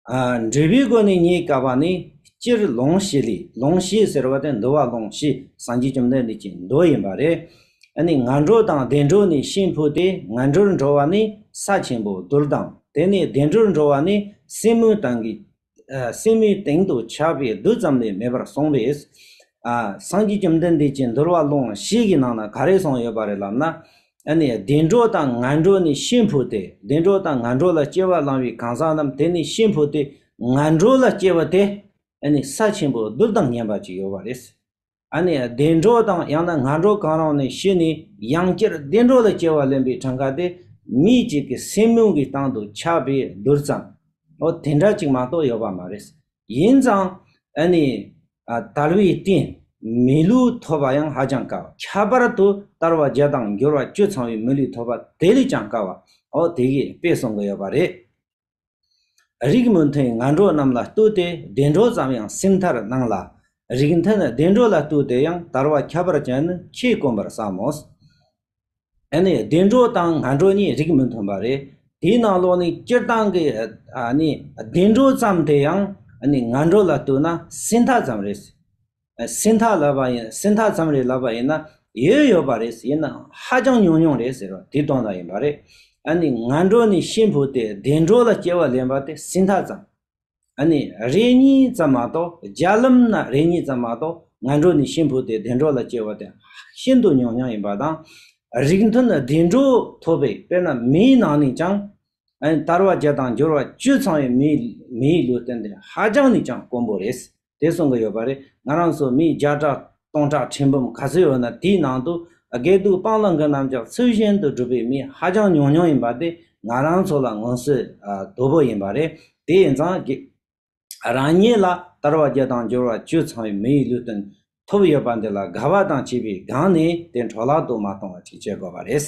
འབྲས་བུའི་སྒོ་ནས་རྙེད་དཀའ་བ་ནི་སྤྱིར་ལོངས་ཤེས་ལས་ལོངས་ཤེས་ཟེར་བ་དེ་འདུལ་བ་ལོངས་ཤེས་སངས་རྒྱས་བཅོམ་ལྡན་འདས་ཀྱི་མདོ་ཡིན་པ་རེད། ནི་ང་འགྲོ་དང་བདེ་འགྲོ་ནི་ཤིང་ཕུག་སྟེ་ང་འགྲོར་འགྲོ་བ་ནི་ས་ཆེན་པོ་རྡུལ་དང་དེ་ནས་བདེ་འགྲོར་འགྲོ་བ་ནི་སེན་མོའི་སྟེང་གི་སེན་མོའི་སྟེང་དུ་ཆགས་པའི་རྡུལ་ཙམ་ལས་མེད་པར་སོང་བས། སངས་རྒྱས་བཅོམ་ལྡན་འདས་ཀྱི་འདུལ་བ་ལོངས་ཤེས་ཀྱི་ནང་ན་ག་རེ་གསུངས་ཡོད་པ་རེད་ལབ་ན། ཨ་ནི་བདེ་འགྲོ་དང་ངན་འགྲོ་ནི་ཤིན་ཕོ་སྟེ་བདེ་འགྲོ་དང་ངན་འགྲོ་ལ་སྐྱེ་བ་བླང་བའི་གང་ཟག་རྣམས་དེ་ནི་ཤིན་ཕོ་སྟེ་ངན་འགྲོ་ལ་སྐྱེ་བ་སྟེ། ཨ་ནི་ས་ཆེན་པོ་རྡུལ་དང་ཉེ་འབར་གྱི་ཡོལ་བ་རེད། ཨ་ནི་བདེ་འགྲོ་དང་ཡང་ན་ངན་འགྲོ་གང་རུང་ནི་ཤི་ནས་ཡང་བསྐྱར་བདེ་འགྲོ་ལ་སྐྱེ་བ་ལེན་པའི་གྲངས་ཀ་སྟེ་མི་གཅིག་གི་སེམས་མིང་གི་སྟེང་དུ་ཆགས་པའི་རྡུལ་ཙམ་ཨོ་དེ་འདྲ་གཅིག་མ་གཏོགས་ཡོད་པ་མ་རེད། ཡིན་ཙང། ཨ་ནི། དལ་བའི་རྟེན། མི་ལུས་ཐོབ་པ་ཡང་ཧ་ཅང་དཀའ་བ། ཁྱད་པར་དུ་དར་བ་བརྒྱ་དང་འགྱུར་བ་བཅུ་ཚང་བའི་མི་ལུས་ཐོབ་པ་དེ་ལས་ཀྱང་དཀའ་བ། ཨོ་དེ་གས་དཔེ་གསུང་གི་ཡོད་པ་རེད། རིགས་མི་མཐུན་ང་འགྲོ་རྣམས་ལ་བསྟོད་དེ་བདེ་འགྲོ་ཙམ་ཡང་སེམས་མཐར་གནང་ལ། རིགས་མཐུན་བདེ་འགྲོ་ལ་བསྟོད་དེ་ཡང་དར་བ་ཁྱད་པར་ཅན་ནི་ཁྱེད་དཀོན་པར་བསམ་མོ། ནི་བདེ་འགྲོ་དང་ངན་འགྲོ་གཉིས་རིགས་མི་མཐུན་པ་རེད། དེའི་ནང་ལོགས་ནས་སྤྱིར་བཏང་གི་བདེ་འགྲོ་ཙམ་དེ་ཡང་ངན་འགྲོ་ལ་ལྟོས་ན་སྲིད་མཐའ་ཙམ་རེད། སྲིད་མཐའ་ལབ་པ་ཡིན་སྲིད་མཐའ་ཙམ་རེ་ལབ་པ་ཡིན་ན་ཡོད་ཡོད་པ་རེད་ཡིན་ནའང་ཧ་ཅང་ཉུང་ཉུང་རེད་ཟེར་བ་དེ་དོན་དག་ཡིན་པ་རེད། ནི་ངན་འགྲོ་ནི་ཤི་འཕོས་ཏེ་བདེ་འགྲོ་ལ་སྐྱེ་བ་ལེན་པ་དེ་སྲིད་མཐའ་ཙམ། ཨ་ནི་རེ་གཉིས་ཙམ་མ་གཏོགས་རྒྱ་ལམ་ན་རེ་གཉིས་ཙམ་མ་གཏོགས་ང་འགྲོ་ནི་ཤིང་བུ་དེ་བདེ་འགྲོ་ལ་སྐྱེལ་བ་དེ་ཤིན་ཏུ་ཉུང་ཉུང་ཡིན་པ་དང། རིགས་མཐུན་བདེ་འགྲོ་ཐོབ་པའི་དཔེར་ན་མིའི་ནང་ནས་ཀྱང། ཨ་ནི་དར་བ་བརྒྱ་དང་སྦྱོར་བ་བཅུ་ཚང་བའི་མིའི་ལུས་རྟེན་དེ་ཧ་ཅང་ནས་ཀྱང་དཀོན་པོ་རེད། དེ་གསུང་གི་ཡོད་པ་རེད་ང་རང་ཚོ་མི་བརྒྱ་ཕྲག་སྟོང་ཕྲག་ཁྲི་འབུམ་ག་ཚོད་ཡོད་ན་དེའི་ནང་དུ་དགེ་སྡུག་སྤང་བླང་གི་རྣམ་གཞག་ཚུལ་བཞིན་དུ་སྒྲུབ་པའི་མི་ཧ་ཅང་ཉུང་ཉུང་ཡིན་པ་དེ་ང་རང་ཚོ་ལ་ངོ་སོས་དོ་པོ་ཡིན་པ་རེད་དེ་ཡིན་ཙང་དགེ་རང་ཉིད་ལ་དར་བ་བརྒྱ་དང་འགྱུར་བ་བཅུ་ཚང་བའི་མིའི་ལུས་སྟོན་ཐུབ་ཡོད་པ་འདི་ལ་དགའ་བ་དང་བྱིས་པའི་སྒང་ནས་དེ་འཕྲོ་བརླག་ཏུ་མ་གཏོང་བ་ཅིག་བྱེད་དགོས་པ་རེད།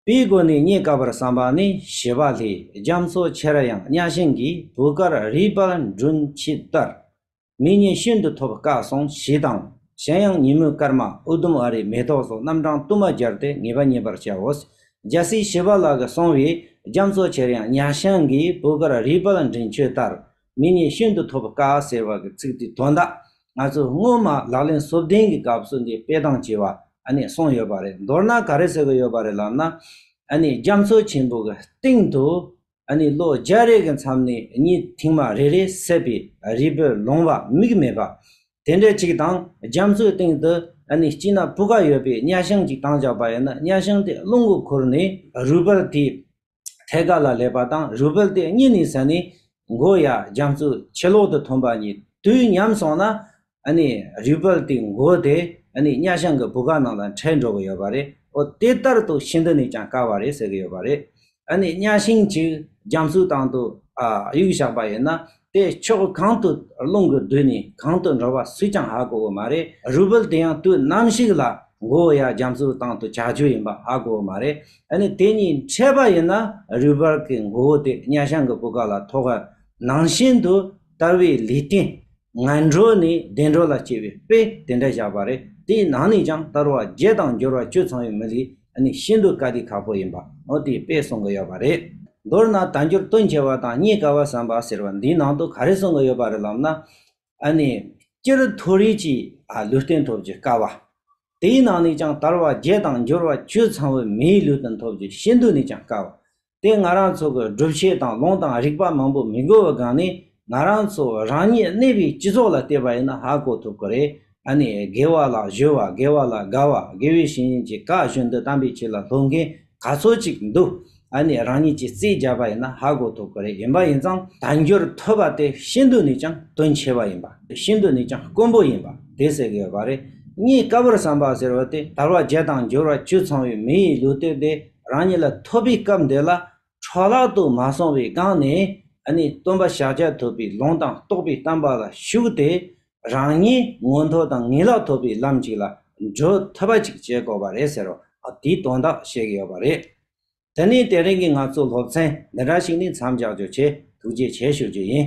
པའི་སྒོ་ནས་རྙེད་དཀའ་བར་བསམ་པ་ནི་བྱེ་བ་ལྷའི་རྒྱ་མཚོ་ཆེར་ཡང་གཉའ་ཤིང་གི་བུ་དཀར་རིའི་དཔལ་སྦྲུལ་འཁྱིལ་ལྟར། མི་སྙན་ཤིན་ཏུ་ཐོབ་དཀའ་སོང་ཞེས་དང་གཞན་ཡང་ཉིན་མོའི་སྐར་མ་ཨུ་དུམ་ཨ་རའི་མེ་ཏོག་སོགས་རྣམ་གྲངས་དུ་མ་སྦྱར་ཏེ་ངེས་པ་རྙེད་པར་བྱའོ། རྒྱལ་སྲིད་བྱེ་བ་ལྷ་དགའ་སོང་བའི་རྒྱ་མཚོ་ཆེར་ཡང་གཉའ་ཤིང་གི་བུ་དཀར་རིའི་དཔལ་སྦྲུལ་འཁྱིལ་ལྟར། མི་ནི་ཤིན་ཏུ་ཐོབ་དཀའ་ཟེར་བ་གྱི་ཚིག་དེ་དོན་དག་ང་ཚོས་སྔོན་མ་ལག་ལེན་གསོ་བདེན་གྱི་སྐབས་སུ་འདི་སྤེལ་སྟངས་བྱས་བ་ནས་གསུངས་ཡོད་པ་རེད་མདོར་ན་ག་རེ་ཟེར་གྱི་ཡོད་པ་རེད་ལབ་ན། རྒྱ་མཚོ་ཆེན་པོ་གྱི་སྟེང་དུ། ལོ་བརྒྱ་རེ་གྱི་མཚམས་ནས་གཉིས་མཐིང་མ་རེ་རེ་བསྲེས་པའི་རི་བོའི་ལུང་བ་མིག་མེད་པ་དེ་འདྲ་གཅིག་དང་རྒྱ་མཚོའི་སྟེང་དུ་སྐྱིད་ན་སྤུ་ཀ་ཡོད་པའི་གཉའ་ཤིང་གཅིག་དྭངས་ཆགས་པ་ཡིན་ན་གཉའ་ཤིང་དེ་རླུང་གིས་ཁུར་ནས་རུས་པར་དེའི་ཐད་ཀ་ལ་ལས་པ་དང་རུས་སྦལ་དེ་གཉིས་ནི་ཟ་ནི། མགོ་ཡ་རྒྱ་མཚོ་ཕྱི་ལོག་ཏུ་ཐོན་པ་གཉིས་དུས་མཉམ་སོང་ན། རུས་སྦལ་དེའི་མགོ་དེ་གཉའ་ཤང་གི་བུ་ག་ནང་ལ་འཕྲད་འགྲོ་གི་ཡོད་པ་རེད། འོ་དེ་ལྟར་དུ་ཤིན་ཏུ་ནས་ཀྱང་དཀའ་བ་རེད་ཟེར་གྱི་ཡོད་པ་རེད། གཉའ་ཤིང་གཅིག་རྒྱ་མཚོའི་སྟེང་དུ་གཡུག་བཞག་པ་ཡིན་ན་དེ་ཕྱོགས་གང་དུ་རླུང་གི་བསྡུས་ནས་གང་དུ་འགྲོ་བ་སུས་ཀྱང་ཧ་གོ་བོ་མ་རེད་རུས་སྦལ་དེ་ཡང་དུས་ནམ་ཞིག་ལ་མགོ་བོ་ཡར་རྒྱ་མཚོའི་སྟེང་དུ་གྱར་རྒྱུ་ཡིན་པ་ཧ་གོ་བོ་མ་རེད་ནི་དེ་གཉིས་འཕྲད་པ་ཡིན་ན་རུས་སྦལ་གྱི་མགོ་བོ་དེ་གཉའ་ཤང་གི་སྤུ་ཀ་ལ་ཐོགས་ཨ་ནང་བཞིན་དུ་ལྟ་བའི་ལུས་རྟེན་ངན་འགྲོ་ནས་བདེ་འགྲོ་ལ་སྐྱེ་བའི་དཔེ་དེ་འདྲ་བཞག་པ་རེད་དེའི་ནང་ནས་ཀྱང་བསྟར་བ་བརྒྱད་དང་འགྱུར་བ་བཅུ་ཚང་བའི་མི་ལུས། ནི་ཤིན་ཏུ་དཀའ་སྡུག་ཁག་པོ་ཡིན་པ་ཨོ་ཏི་པས་གསུང་གི་ཡོད་པ་རེད། མདོར་ན་དལ་འབྱོར་སྟོན་ཆེ་བ་དང་རྙེད་དཀའ་བ་བསམ་པ་ཟེར་བ་འདིའི་ནང་དུ་ག་རེ་གསུང་གི་ཡོད་པ་རེད་ལབ་ན། ཨ་ནི། སྤྱིར་མཐོ་རིས་ཀྱི་ལུས་རྟེན་ཐོབ་རྒྱུ་དཀའ་བ། དེའི་ནང་ནས་ཀྱང་དར་བ་བརྒྱད་དང་འབྱོར་བ་བཅུ་ཚང་བའི་མིའི་ལུས་རྟེན་ཐོབ་རྒྱུ་ཤིན་ཏུ་ནས་ཀྱང་དཀའ་བ། དེ་ང་རང་ཚོ་གི་སྒྲུབ་བྱེད་དང་ལུང་དང་རིགས་པ་མང་པོ་མི་འགོ་བའི་སྒང་ནས་ང་རང་ཚོ་རང་ཉིད་གནས་པའི་སྤྱི་ཚོགས་ལ་བལྟས་པ་ཡིན་ན་ཧ་གོ་ཐུབ་ཀི་རེད་ཨ་ནི་དགེ་བ་ལ་གཞོལ་བ་དགེ་བ་ལ་དགའ་བ་དགེ་བའི་བཤེས་གཉེན་གྱི་བཀའ་བཞིན་དུ་དམ་པའི་ཆོས་ལ་སློབ་མཁན་ག་ཚོད་ཅིག་འདུག་ཨ་ནི་རང་ཉིད་ཀྱི་རྩིས་རྒྱག་པ་ཡིན་ན་ཧ་གོ་ཐུབ་ཀི་རེད་ཡིན་པ་ཡིན་ཙང་དལ་འབྱོར་ཐོས་པ་དེ་ཤིན་ཏུ་ནས་ཀྱང་དོན་ཆེ་བ་ཡིན་པ་ཤིན་ཏུ་ནས་ཀྱང་དཀོན་པོ་ཡིན་པ་དེ་ཟེར་གི་ཡོད་པ་རེད་གཉིས་ཀ་བུར་བསམ་པ་ཟེར་བ་དེ་དར་བ་བརྒྱད་དང་འབྱོར་བ་བཅུ་ཚང་བའི་མི་ཡི་ལུས་སྟོད་དེ་རང་ཉིད་ལ་ཐོབ་པའི་སྐབས་འདི་ལ་འཕྲོ་བརླག་ཏུ་མ་སོང་བའི་སྒང་ནས་ནི་སྟོན་པ་ཤཱཀྱ་ཐུབ་པའི་ལུང་དང་རྟོགས་པའི་གཏམ་པ་ལ་ཞུགས་ཏེ་རང་ཉིད་མངོན་མཐོ་དང་ངེས་ལག་ཐོབ་པའི་ལམ་ཅིག་ལ་འགྲོ་ཐུབ་པ་ཅིག་བྱེད་དགོས་པ་རེད་ཟེར་བ་དེའི་དོན་དག་བཤད་ཀྱི་ཡོད་པ་རེད། དེ་ནས་དེ་རིང་གི་ང་ཚོའི་སློབ་ཚན་འདི་འདྲ་ཞིག་ནི་མཚམས་འཇགས་རྒྱུ་ཆེད་ཐུགས་རྗེ་ཆེ་ཞུ་རྒྱུ་ཡིན།